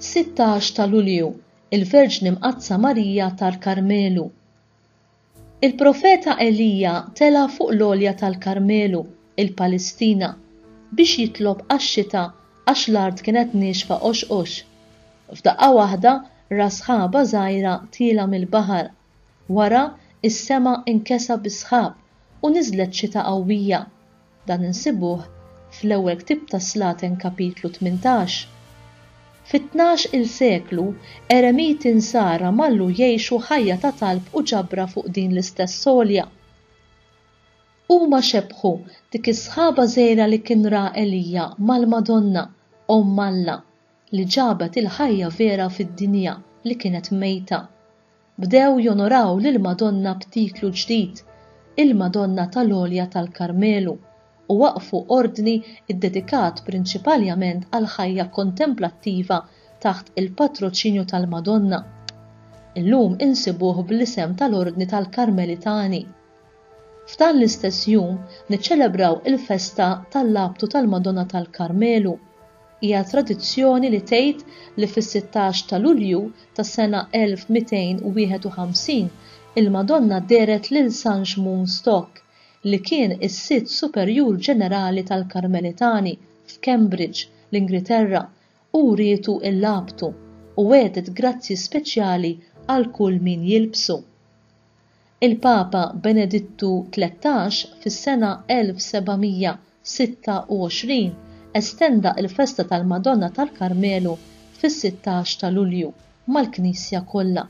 16 ta' Lulju, il-Verġni Mqaddsa Marija tal-Karmelu, Il-profeta Elija tela' fuq l-għolja tal-Karmelu, il-Palestina, biex jitlob għax-xita għax l-art kienet niexfa qoxqox. F'daqqa waħda ra sħaba żgħira tielgħa mill-baħar. Wara, is-sema nkesa bis-sħab u niżlet xita qawwija. Dan insibuh fl-ewwel ktieb tas-Slaten kapitlu tmintax. Fit-tnax-il seklu, eremiti Nsara mallu jgħixu ħajja ta' talb u ġabra fuq din l-istess għolja. Huma xebbħu dik is-sħaba żgħira li kien ra Elija mal-Madonna, Omm Alla, li ġabet il-ħajja vera fid-dinja li kienet mejta. Bdew jonoraw lill-Madonna b'titlu ġdid, il-Madonna tal-Għolja tal-Karmelu, u waqqfu ordni ddedikat prinċipaljament għall-ħajja kontemplattiva taħt il-patroċinju tal-Madonna. Illum insibuh bl-isem tal-Ordni tal-Karmelitani, F'dan l-istess jum niċċelebraw il-festa tal-Labtu tal-Madonna tal-Karmelu. Hija tradizzjoni li tgħid li fis-sittax ta' Lulju tas-sena 1251 il-Madonna dehret lil San Xmun Stock, li kien is-Sid Superjur Ġenerali tal-Karmelitani f'Cambridge, l-Ingriterra, u wrietu l-Labtu, u wegħdet grazzji speċjali għal kull min jilbsu. Il-Papa Benedittu Tlettax fis-sena 1726 estenda l-festa tal-Madonna tal-Karmelu fis-sittax ta' Lulju mal-Knisja kollha.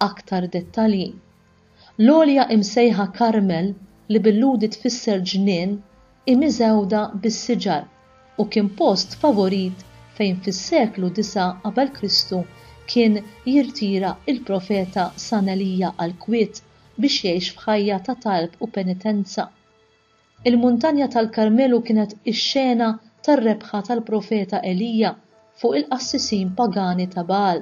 Aktar dettalji. L-għolja imsejħa Karmel, li bil-Lhudi tfisser ġnien, hi miżewda bis-siġar. u kien post favorit fejn fis-seklu disa' qabel Kristu kien jirtira il-profeta San Elija għall-kwiet biex jgħix f'ħajja ta' talb u penitenza. Il-Muntanja tal-Karmelu kienet ix-xena tar-rebħa tal-profeta Elija fuq il-qassisin pagani ta' Baal.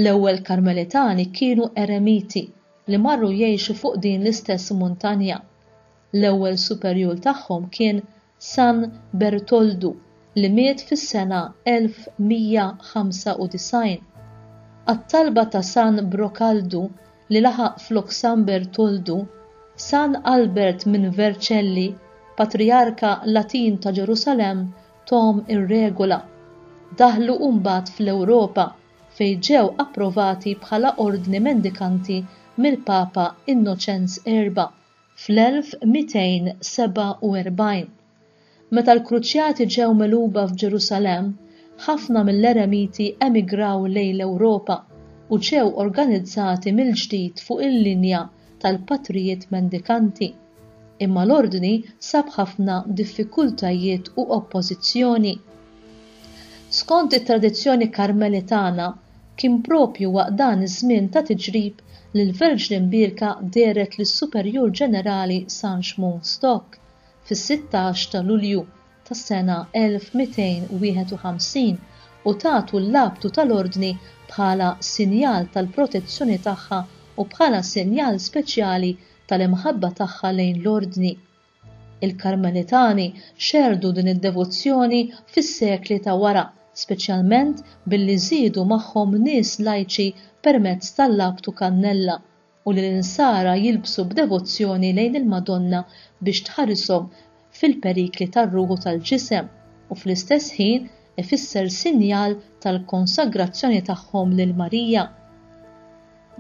L-ewwel Karmelitani kienu eremiti li marru jgħixu fuq din l-istess muntanja. L-ewwel superjur tagħhom kien San Bertoldu li miet fis-sena 1195. Għat-talba ta' San Brokaldu li laħaq flok San Bertoldu, San Albert minn Vercelli, patrijarka Latin ta' Ġerusalemm thom ir-regola. Daħlu mbagħad fl-Ewropa fejn ġew approvati bħala ordni mendikanti mill-Papa Innoċenz Erba' Fl-1247, meta l-Kruċjati ġew megħluba f'Ġerusalemm, ħafna mill-Eremiti emigraw lejn l-Ewropa u ġew organizzati mill-ġdid fuq il-linja tal-patrijiet mendikanti. Imma l-Ordni sab ħafna diffikultajiet u oppożizzjoni. Skont it-tradizzjoni Karmelitana, kien proprju waqt dan iż-żmien ta' tiġrib li l-Verġni Mbierka dehret lis-Superjur Ġenerali San Xmun Stock fis-sittax ta' Lulju tas-sena 1251 u tatu l-abtu tal-Ordni bħala sinjal tal-protezzjoni tagħha u bħala sinjal speċjali tal-imħabba tagħha lejn l-Ordni Il-Karmelitani xerrdu din id-devozzjoni fis-sekli ta' wara, speċjalment billi żiedu magħhom nies lajċi permezz tal-abtu kannella, u li l-insara jilbsu b'devozzjoni lejn il-Madonna biex tħarishom fil-perikli tar-ruħ u tal-ġisem, u fl-istess ħin ifisser sinjal tal-konsagrazzjoni tagħhom lil Marija.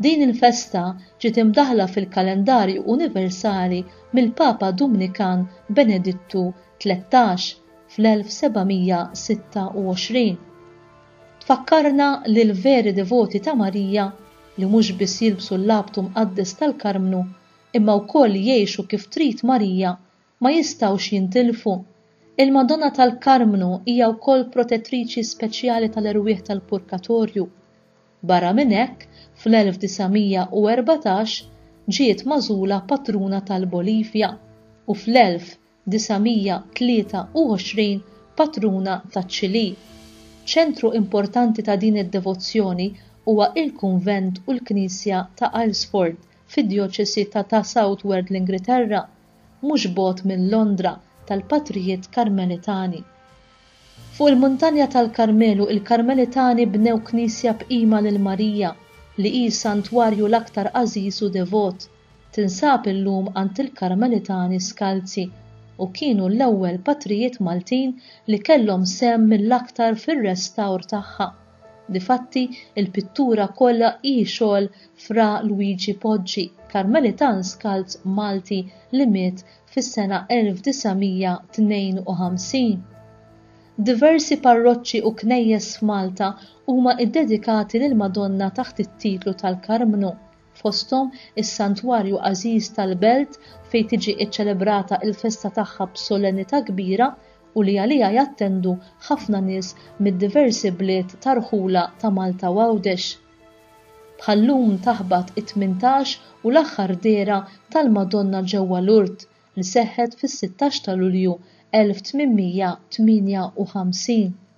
Din il-festa ġiet imdaħħla fil-kalendarju universali mill-Papa Dumnikan Benedittu Tlettax fl-1726. Tfakkarna li l-veri devoti ta' Marija, li mhux biss jilbsu l-abtu mqaddes tal-Karmnu, imma wkoll jgħixu kif trid Marija, ma jistgħux jintilfu. Il-Madonna tal-Karmnu hija wkoll protettriċi speċjali tal-erwieħ tal-purkatorju. Barra minn hekk, fl-1914 ġiet magħżula patruna tal-Bolivja u fl-1923 patruna taċ-Ċilì. Ċentru importanti ta' din id-devozzjoni huwa il-kunvent u l-knisja ta' Aylesford fid-djoċesi ta' ta' Southward l-Ingriterra. mhux bogħod minn Londra tal-Patrijiet Karmelitani. Fuq il-Muntanja tal-Karmelu il-Karmelitani bnew knisja b'qima lil Marija li hi s-santwarju l-aktar għażiż u devot. Tinsab illum għand il-Karmelitani Skalzi u kienu l-ewwel Patrijiet Maltin li kellhom sehem mill-aktar fir-restawr tagħha. Difatti, il-pittura kollha hi xogħol Fra Luigi Poggi, Karmelitan Skald Malti li miet fis-sena 1952. Diversi parroċċi u knejjes f'Malta huma ddedikati lill-Madonna taħt it-titlu tal-Karmnu, fosthom is-santwarju għażiż tal-belt fejn tiġi ċċelebrata l-festa tagħha b'solennità kbira u li għaliha jattendu ħafna nies mid-diversi bliet ta' rħula ta' Malta u Għawdex. Bħal-lum taħbat it-tmintax u l-aħħar dehra tal-Madonna ġewwa Lourdes li seħħet fis-sittax ta' Lulju 1858.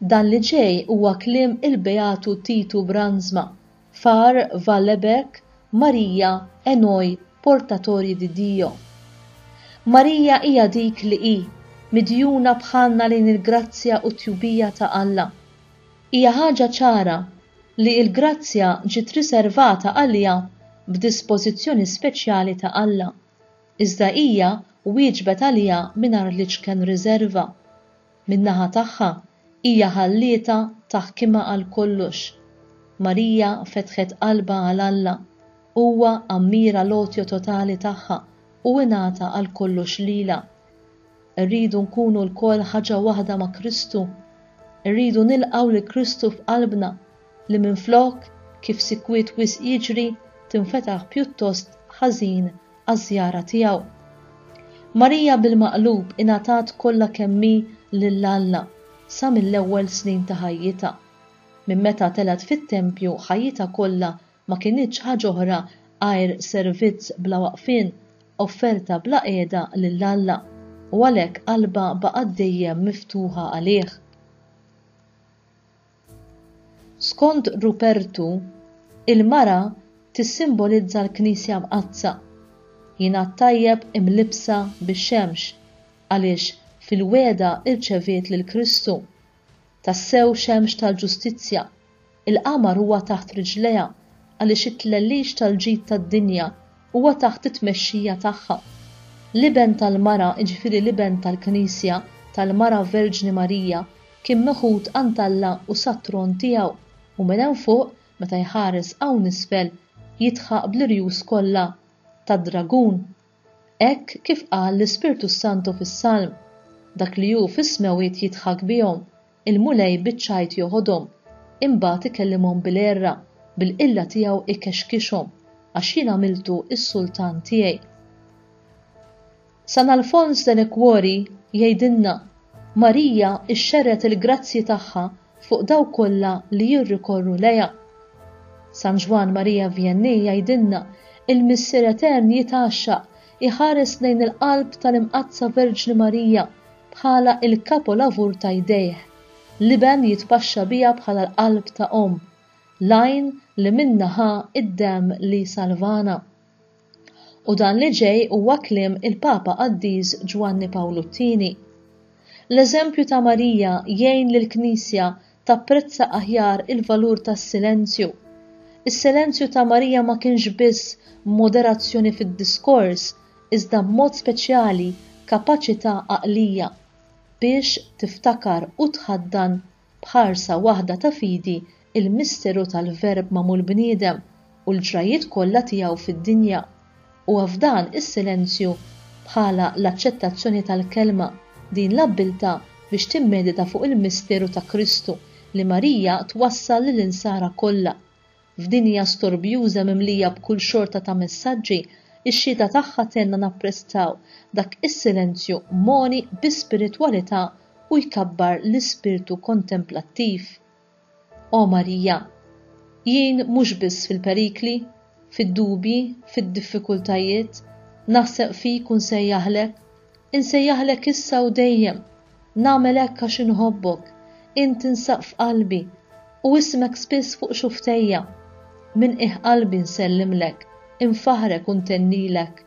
Dan li ġej huwa kliem il-Beatu Titu Brandsma, Far Valleberg, Maria è noi portatori di Dio. Marija hija dik li hi, midjuna bħalna lejn il-grazzja u t-tjubija ta' Alla. Hija ħaġa ċara li l-grazzja ġiet riservata għaliha b'dispożizzjoni speċjali ta' Alla, iżda hija wieġbet għaliha mingħajr l-iċken riżerva. Min-naħa tagħha, hija ħallietha taħkimha għal kollox. Marija fetħet qalbha għal Alla. Huwa ammira l-għotja totali tagħha u ingħata għal kollox lilha. Irridu nkunu lkoll ħaġa waħda ma' Kristu. Irridu nilqgħu lil Kristu f'qalbna, li minflok, kif sikwiet wisq jiġri, tinfetaħ pjuttost ħażin għaż-żjara tiegħu. Marija bil-maqlub ingħatat kollha kemm hi lil Alla sa mill-ewwel snin ta' ħajjitha. Minn meta telgħet fit-tempju ħajjitha kollha ma kinitx ħaġa oħra għajr servizz bla waqfien, offerta bla qiegħda lil Alla, u għalhekk qalbha baqgħet dejjem miftuħa għalih. Skont Rupertu, il-mara tissimbolizza l-Knisja Mqaddsa. Jingħad tajjeb imlibbsa bix-xemx għaliex fil-wegħda rċeviet lil Kristu. Tassew xemx tal-ġustizzja, il-qamar huwa taħt riġlejha għaliex it-tlellix tal-ġid tad-dinja Huwa taħt it-tmexxija tagħha. L-Iben tal-Mara, jiġifieri l-Iben tal-Knisja, tal-Mara Verġni Marija, kien meħud għand Alla u sat-tron tiegħu, u minn hemm fuq, meta jħares hawn isfel, jidħaq bl-irjus kollha tad-dragun. Hekk kif qal l-Ispirtu s-Santu fis-Salm, Dak li hu fis-smewwiet jidħak bihom, Il-Mulej biċ-ċajt joħodhom, imbagħad ikellimhom bil-għerra, bil-qilla tiegħu ikexkixhom, għax jien għamiltu s-sultan tiegħi. San Alfons de Liguori jgħidilna, Marija xxerred il-grazzji tagħha fuq dawk kollha li jirrikorru lejha. San Ġwann Marija Vjennij jgħidilna, Il-Missier Etern jitgħaxxaq iħares lejn il-qalb tal-Imqaddsa Verġni Marija bħala l-kapolavur ta' jdejh. L-Iben jitpaxxa biha bħala l-qalb ta' omm, l-għajn li minnha ħa d-demm li salvana. U dan li ġej huwa kliem il-Papa Qaddis Ġwanni Pawlu t-Tieni. L-eżempju ta' Marija jgħin lill-Knisja tapprezza aħjar il-valur tas-silenzju. Is-silenzju ta' Marija ma kienx biss moderazzjoni fid-diskors, iżda b'mod speċjali kapaċità għaqlija biex tiftakar u tħaddan b'ħarsa waħda ta' fidi l-misteru tal-Verb magħmul bniedem, u l-ġrajjiet kollha tiegħu fid-dinja, huwa f'dan is-silenzju, bħala l-aċċettazzjoni tal-Kelma, din l-abbiltà biex timmedita fuq il-misteru ta' Kristu, li Marija twassal lill-Insara kollha. F'dinja storbjuża mimlija b'kull xorta ta' messaġġi, ix-xhieda tagħha tgħinna napprezzaw dak is-silenzju mgħoni bi spiritwalità u jkabbar l-ispirtu kontemplattiv. O Marija, jien mhux biss fil-perikli, fid-dubji, fid-diffikultajiet, naħseb fik u nsejjaħlek, insejjaħlek issa u dejjem, nagħmel hekk għax inħobbok, int tinsab f'qalbi, u ismek spiss fuq xufftejja. Minn qiegħ qalbi nsellimlek, infaħħrek u ntennilek.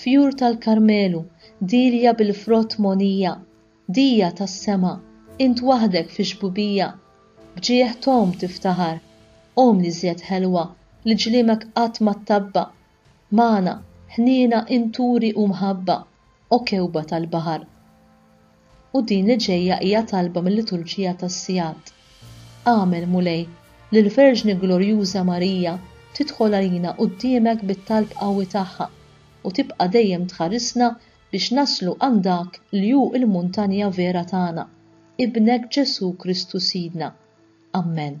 Fjur tal-Karmelu, dielja bil-frott mogħnija, Dija tas-sema, int waħdek fix-xbubija, B'ġieħ t'omm tiftaħar, omm l-iżjed ħelwa Li ġliemek qatt ma ttabba', Magħna, ħniena, inturi u mħabba, O kewba tal-baħar. u din li ġejja hija talba mil-Liturġija tas-Sigħat. Agħmel, Mulej, li l-Verġni Glorjuża Marija tidħol għalina quddiemek bit-talb qawwi tagħha u tibqa' dejjem tħarisna biex naslu għand dak li hu l-muntanja vera tagħna, Ibnek Ġesù Kristu Sidna. Ammen.